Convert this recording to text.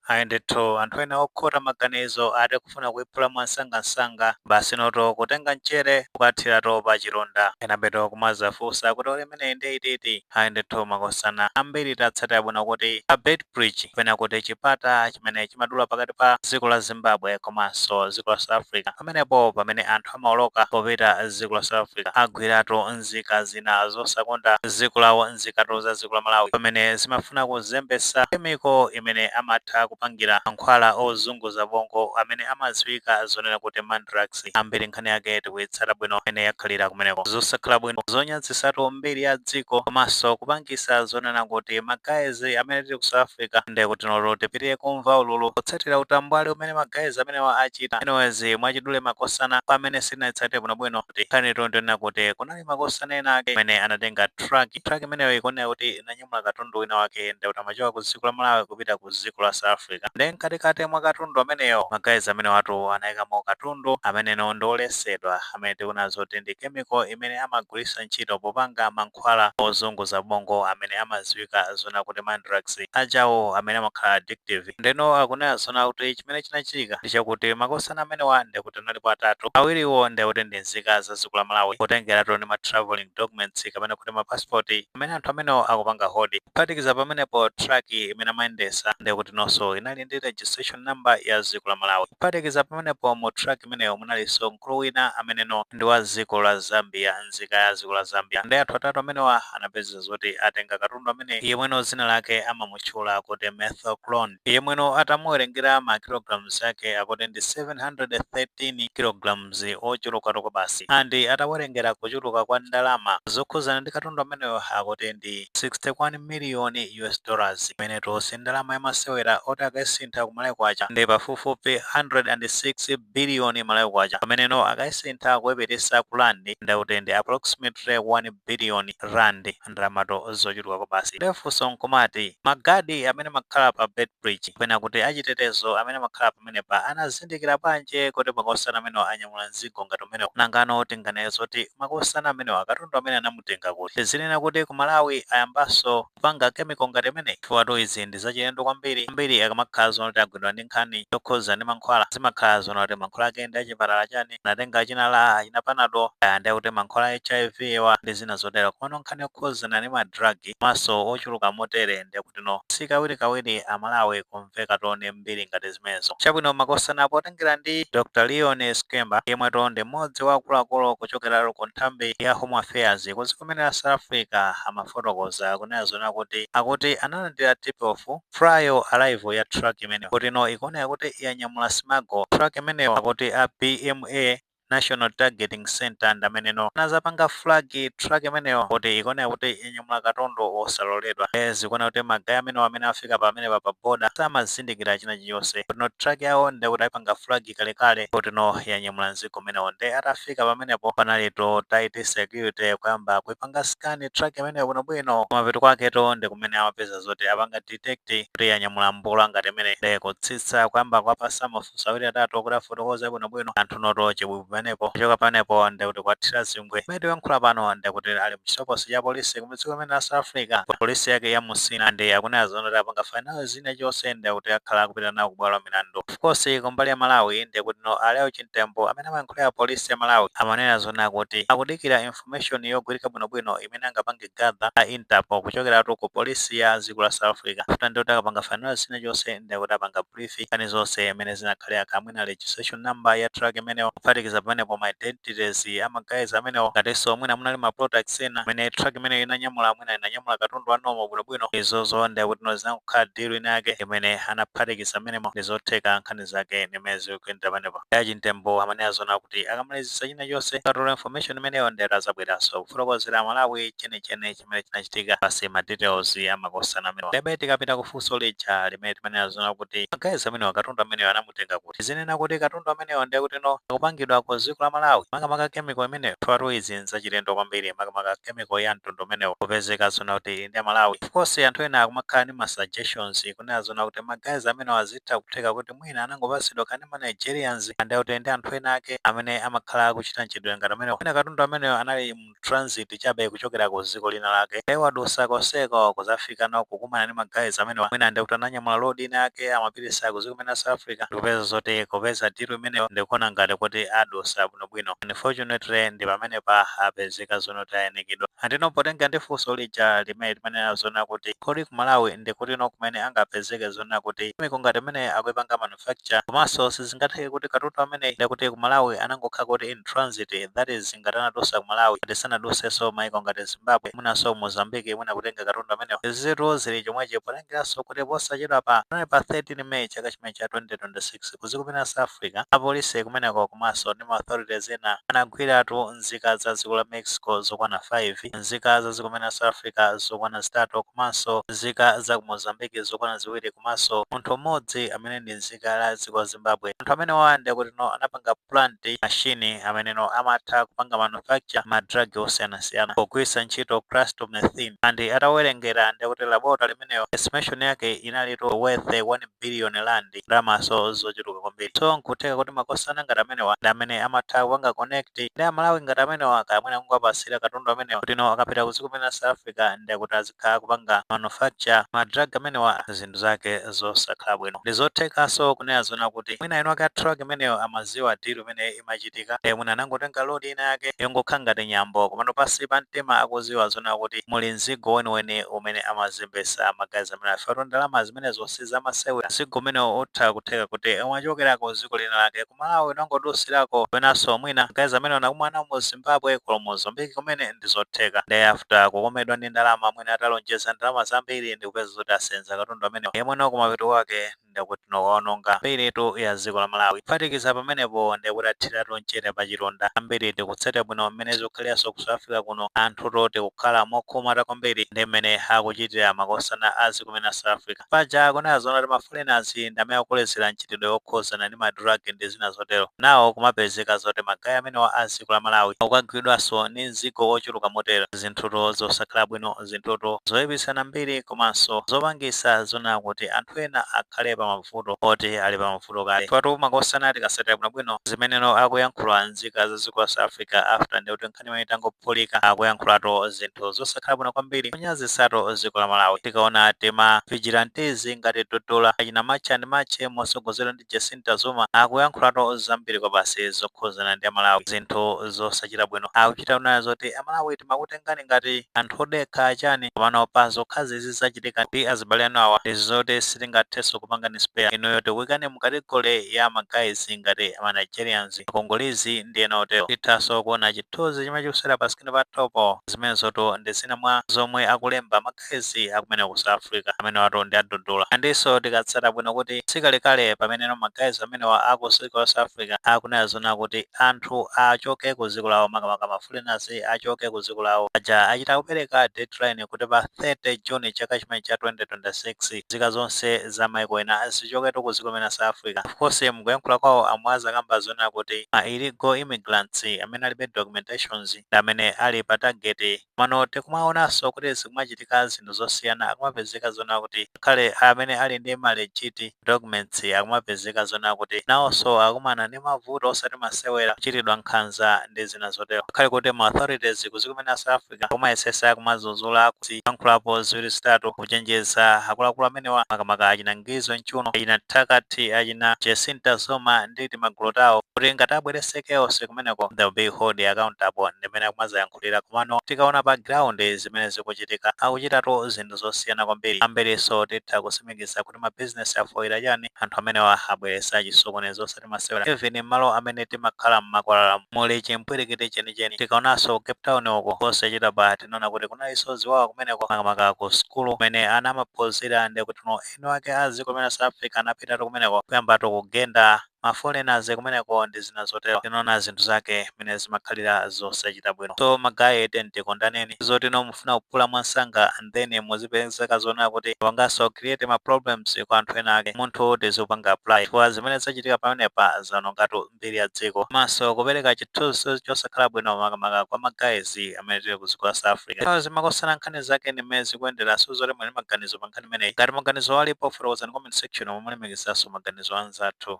Ayi ndithu, anthu ena okhota maganizo ati kufuna kuiphula mwamsangamsanga basinotu kutenga mchere kukathiratu pachilonda. Enabetu kumadzafunsa kuti olo imeneyi nde iti iti? Ayi ndithu makosana ambiri tatsatira bwino kuti pa Beit Bridge kapena kuti chipata chimene chimadula pakati pa dziko la Zimbabwe komanso dziko la South Africa pamenepo pamene anthu amaoloka popita ku dziko la South Africa agwiratu nzika zina zosakonda dziko lawo nzikatu za dziko la Malawi pamene zimafuna kuzembetsa chemical imene amatha kupangira mankhwala ozunguza bongo amene amadziwika zonena kuti mandrax ambiri nkhani yake tikuitsata bwino mmene yakhalira kumeneko zosakhala bwino zonyazisatu mbiri ya dziko komanso kupangisa zonena kuti ma guys amene tili ku South Africa nde kutinotu tipitirire kumva ululu potsatira utambwali umene ma guys amenewa achita anyways mwachidule makosana kwa amene sanaitsate bwinobwino kuti nkhani tonto inena kuti kunali makosana ena ake amene anatenga truck truck imeneyo ikuoneka kuti inanyamula katundu wina wake ndekuti amachoka ku dziko la malawi kupita ku dziko la south africa nde mkatikati mwa katundu ameneyo ma guys amenewatu anayikamo katundu ameneno ndi olesedwa amene tikunena zoti ndi chemical imene amagwiritsa ntchito popanga mankhwala mankhwala ozunguza bongo amene amadziwika zonena kuti mandrax ajawo amene amakhala addictive ndeno akunena zonena kuti chimene chinachitika ndi chakuti makosana amenewa ndekuti analipo atatu awiriwo ndekuti ndi nzika za dziko la malawi kutengeratu ndi ma travelling documents kapena kuti ma passport amene anthu amenewo akupanga hold kuphatikiza pamenepo truck imene amayendesa ndekuti nonso inali ndi registration number ya dziko la malawi kuphatikiza pamenepo mu truck imeneyo munalinso mkulu wina ameneno ndi wa dziko la zambia nzika ya dziko la Zambia nde anthu atatu amenewa anapezeka zoti atenga katundu ameneyo yemweno dzina lake amamutchula kuti methaqualone yemweno atamuwerengera ma kilograms ake akuti ndi 713 kilograms ochulukatu kwabasi and atawerengera kuchuluka kwa ndalama zokhudzana ndi katundu ameneyo akuti ndi 61 million US dollars imenetu si ndalama yamasewera akuti akaisintha ku malawi kwacha ndi pafupifupi 106 billion malawi kwacha pameneno akaisintha kuipititsa ku rand ndekuti ndi approximately 1 billion rand ndalamatu zochuluka kwabasi nde funso nkumati magadi amene amakhala pa Beit Bridge kapena kuti achitetezo amene amakhala pamenepa anazindikira bwanji kuti makosana amenewa anyamula mzigo ngati umenewo nangano tinganene zoti makosana amenewa katundu amene anamutenga kuti tizinena kuti ku malawi ayambanso kupanga chemical ngati imeneyi chifukwatu izi ndi zachilendo kwambiri ambiri akamakhala zonena kuti agwidwa ndi nkhani yokhuzana ndi mankhwala zimakhala zonena kuti mankhwala ake ndi achipatala chani anatenga achina LA achina panado aya ndi akuti mankhwala a hiv wa ndi zina zotero komano nkhani yokhuzana ndi ma drug komanso ochuluka motere ndikutino sikawirikawiri amalawi kum kumveka tone mbiri ngati zimenezo. Chabwino, makosana, potengera ndi Dr. Leon Schreiber, yemwetu ndi mmodzi wa akuluakulu kuchokeratu ku nthambi ya Home Affairs ku dziko limene la South Africa, amafotokoza kunena zonena kuti akuti analandira tip-off prior arrival ya truck imeneyo kuti no ikuoneka kuti yanyamula smuggle. Truck imeneyo akuti a BMA. National Targeting Centre ndi ameneno anazapanga flag truck imeneyo kuti ikuoneka kuti yanyamula katundu wosaloledwa. Ndiye zikuoneka kuti ma guys amenewa amene afika pamenepa pa border samazindikira china chilichonse. Kuti no truck yawo ndiye kuti aipanga flag kalekale kuti no yanyamula mzigo umenewo. Ndiye atafika pamenepo panalitu tight security kuyamba kuipanga scan truck imeneyo bwinobwino. Kumapeto kwaketu ndi kumene amapeza zoti apanga detect kuti yanyamula mbolo ngati imene nde kutsitsa kuyamba kwapasa mafunso awiri atatu kuti afotokoze bwinobwino anthu noto chibwibwi pamenepo kuchoka pamenepo nde kuti kwathira zingwe mmene tiyankhula pano nde kuti ali mchitokosi cha polisi kudziko limene la south africa polisi yake ya musina ndi akunena zona kuti apanga finalise china chonse nde kuti akhala akupita nawo kubwalo la milandu of course kumbali ya malawi nde kuti no a Lael Chimtembo amene amayankhulira polisi ya malawi amanena zona kuti akudikira info information yogwirika bwinobwino imene angapange gather a Interpol kuchokeratu ku police ya dziko la South Africa chifukwa ndiye kuti akapanga finalise chinachonse ndiye kuti apanga brief nkhani zonse mmene zinakhalira kaya mwina registration number ya truck imeneyo kuphatikiza pamenepo ma identities a ma guys amenewo ngatinso mwina munali ma products ena amene truck imeneyo inanyamula mwina inanyamula katundu wa normal bwinobwino izozo ndiye kuti no zinangokhala deal ina yake imene anaphatikiza mmenemo ndi zotheka nkhani zake ndi mmene zikuyendera pamenepo ndi a Chimtembo amanena zona kuti akamalizitsa china chonse akatola information imeneyo nde azabweranso kufotokozera amalawi chenicheni chimene chinachitika plus ma details amakosana amenewa ndebe tikapita kufunso lija limene timanena zona kuti ma guys amenewa katundu ameneyo anamutenga kuti zinena kuti katundu ameneyo ndiye kuti no akupangidwa ku dziko la malawi makamaka chemical imeneyo choncho izi nzachilendo kwambiri makamaka chemical ya mtundu umenewo kupezeka zona kuti ndi amalawi of course anthu ena akumakhala ndi ma suggestions kunena zona kuti ma guys amenewa zi Zitha kutheka kuti mwina anangopatsidwa kaya ndi ma Nigerians nde kuti ndi anthu ena ake amene amakhala akuchita mchitidwe ngati umenewu. Mwina katundu ameneyo anali mu transit chabe kuchokera ku dziko lina lake iwo adusa konseko kudzafika nawo kukumana ndi ma guys amenewa mwina nde kuti ananyamula load ina yake amapititsa ku dziko limene la South Africa ndikupeza zoti kupeza deal imeneyo ndikuona ngati kuti adusa bwinobwino. Unfortunately ndi pamenepa apezeka. ka zoona tayanikidwa andino potengera ndi funso lija limene timanena zona kuti kodi ku malawi ndi kuti no kumene angapezeke zona kuti chemical ngati imene akuipanga manufacture komanso sizingatheke kuti katundu amene nde kuti ku malawi anangokhala kuti in transit that is ngati anadusa ku malawi ngati sanadusenso maiko ngati zimbabwe mwinanso mozambique mwina kutenga katundu amenewo izitu zili chomwechi potenga Potengeranso kuti posachedwapa, panono pa 13 May chaka chimenechi cha 2026, ku dziko limeneli la South Africa, apolisi kumeneko komanso ndi ma authorities ena anagwiratu nzika za dziko la Mexico zokwana 5, nzika za dziko limeneli la South Africa zokwana zitatu komanso nzika za ku Mozambique zokwana ziwiri komanso munthu mmodzi amene ndi nzika la dziko la Zimbabwe. Anthu amenewa ndiye kutino anapanga. plant machine ameneno amatha kupanga manufacture ma drug osiyanasiyana pogwiritsa ntchito crystal meth and atawerengera ndekuti laboratory imeneyo estimation yake inalitu worth 1 billion rand ndalamaso zochuluka kwambiri so nkutheka kuti makosana ngati amenewa ndi amene amatha kupanga connect ndi amalawi ngati amenewa kaya mwina kungowapatsira katundu amenewa kuti no akapita ku ziko limeneli la south africa ndekuti kakupanga manufacture ma drug amenewa zinthu zake zosakhala bwino. Ndizothekaso kunena zoona kuti mwina eni ake a truck imeneyo amaziwa deal imene imachitika mwina anangotenga load ina yake yongokhala ngati nyambo komano pansi pa mtima akuziwa zoona kuti muli mzigo weniweni umene amazembesa ma guys amenewa chifukwa tu ndalamazi zimenezo si zamasewera. Mzigo umenewo utha kutheka kuti umachokera ku ziko lina lake ku Malawi unangodutsirako kapenanso mwina guys amenewo anakumana nawo mu Zimbabwe ku Mozambique kumene ndi zotheka nde after kukomedwa ndi ndalama mwina atalonjeza ndalama zambiri ndi kupezeka zoti asenza katundu amenewo yemweno kumapeto kwake ndekuti no akaononga mbiritu ya ziko la Malawi. Kuphatikiza pamenepo ndekuti athiratu mchere pa chilonda. Ambiri tikutsatira bwino mmene zikukhaliranso ku South Africa kuno anthutu tikukhala mokhumudwa kwambiri ndi mmene akuchitira makosana a ziko kumene South Africa. Paja akunena zoona kuti ma foreigners ndi amene akukolezera mchitidwe okhuzana ndi ma drug ndi zina zotero. Now kumapezeka zoti ma guy amenewa a dziko la Malawi akukagwidwaso ndi mzigo ochuluka motere. Zinthutu zosakhala bwino, zinthutu zoipitsa mbiri komanso zopangitsa zoona kuti anthu ena akhale pa mavuto oti ali pa mavuto kale. Chifukwa tu makosana tikatsatira bwinobwino zimeneno akuyankhula nzika za dziko la South Africa after ndekuti nkh. nkhani imene itangophulika akuyankhulatu zinthu zosakhala bwino kwambiri kunyazisatu dziko la malawi tikaona tima vigilante ngati dudula achina march and march motsogozedwa ndi jacinta zuma akuyankhulatu zambiri kwabasi zokhuzana ndi amalawi zinthu zosachita bwino akuchita kunena zoti amalawi timakutengani ngati anthu odekha achani komano pa zokhazi zizachitika ndi azibale anu awa ndi zoti sitingathenso kupangani spare inuyo tikuikani mu category ya ma guys ngati amanigerians Ma Congolese ndi ena otero. Tithaso kuona chithunzi chimene chikusewera pa screen pathopo. Zimenezotu ndi zina mwa zomwe akulemba ma guys akumene ku South Africa. Amenewatu ndi a Dudula. Andiso tikaitsata bwino kuti sikalekale pameneno ma guys amenewa a ku ziko la South Africa akunena zoona kuti anthu achoke ku ziko lawo makamaka ma foreigners achoke ku ziko lawo. Paja achita kupereka deadline kuti pa 30 June chaka chimene cha 2026. nzika zonse za maiko ena zichoketu ku ziko limene la sa africa of course mkuyankhula kwao amwe akamba zonena kuti ma illegal immigrants amene alibe documentations ndi amene ali pa target komano tikumaonaso kuti zikumachitika zinthu zosiyana akumapezeka zonena kuti ngakhale amene ali ndi ma legit documents akumapezeka zonena kuti naoso akumana ndi mavuto osati masewera kuchitidwa nkhanza ndi zina zotero ngakhale kuti ma authorities ku ziko mena sa africa Africa akumayesesa kumazuzula kuyankhulapo ziwiri zitatu kuchenjeza akuluakulu amenewa makamaka achina Ngizwe Mchunu, achina Phakathi, achina Jacinta Zuma ndi timagulu tawo kuti ngati abwerese chaos kumeneko they'll be held accountable ndimene akumazayankhulira komano tikaona pa ground zimene zikuchitika akuchitatu zinthu zosiyana kwambiri ambiriso titha kusimikiza kuti kuti ma business afooka chani? anthu amenewa abweretsa chisokonezo osati masewera. even mmalo amene timakhala mmakwalalamu muli chimpwirikiti chenicheni. tikaonanso ku cape town uko posachedwapa tinaona kuti kunalinso ziwawa kumeneko makamaka ku sukulu kumene ana amaphunzira ndikuti eni wake a dziko limene la south africa anapitatu kumeneko kuyambatu kugenda. ma foreigners kumeneko ndi zina zotero tinaona zinthu zake mene zimakhalira zosachita bwino so ma guys tiyeni tikondaneni zoti no mufuna kuphula mwansanga and then muzipezeka zonena kuti mwapangaso create ma problems kwa anthu ena ake umunthu tizipanga apply chifukwa zimene zachitika pamenepa zaonongatu mbiri ya dziko komanso kupereka chithunzi chosakhala bwino makamaka kwa ma guys amene tili ku dziko la south africa zimakosana nkhani zake ndi mmene zikuyendera so zoti muli maganizo pa nkhani imeneyi ngati maganizo alipo fotokozani comment section momo mulemekeza maganizo anzathu